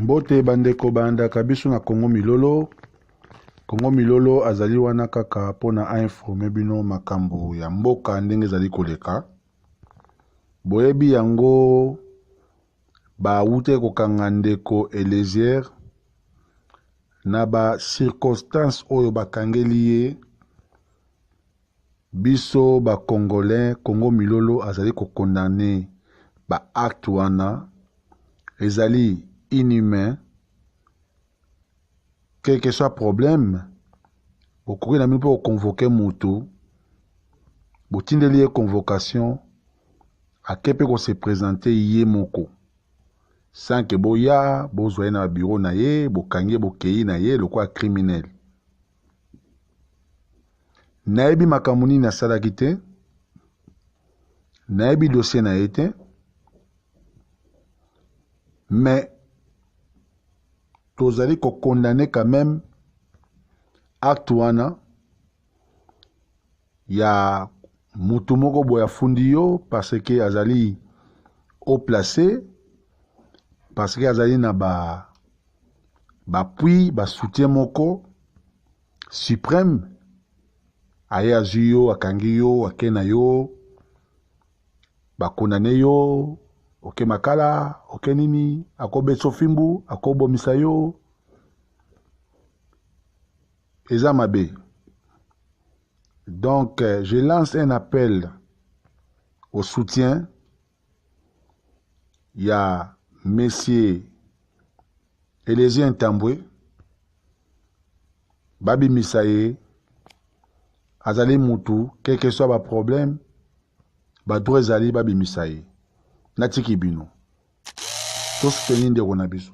Mbote bandeko balandaka biso na Congo Milolo. Congo Milolo azali wana kaka mpo na ainforme bino makambo ya mboka ndenge ezali koleka. Boyebi yango bawutaki kokanga ndeko Elezier na ba circonstances oyo bakangeli ye Biso ba congolais congo milolo azali ko condamne ba acte wana ezali inhumain quel que soit problème bokoki na bino mpe ko convoque mutu botindeli ye convocation ake mpe ko se presente ye moko sans que boya bozwa ye na ba bureau na ye bokangi ye bokeyi na ye lokola criminel. nayebi makambo nini asalaki te nayebi dossier na ye te mais tozali kokondane quand même acte wana ya mutu moko boye afundi yo parce que azali au place parce que azali na ba bapui basoutien moko supreme aye azwi yo akangi yo ake na yo bakundane yo oke makala oke nini akobetisa ofimbu akobomisa yo eza mabe donc euh, je lance un appel au soutien ya monsieur elezien ntambwe babimisa ye azali mutu quelque soit baproblème badroit ezali babimisa ye natiki bino tosuteni ndeko na biso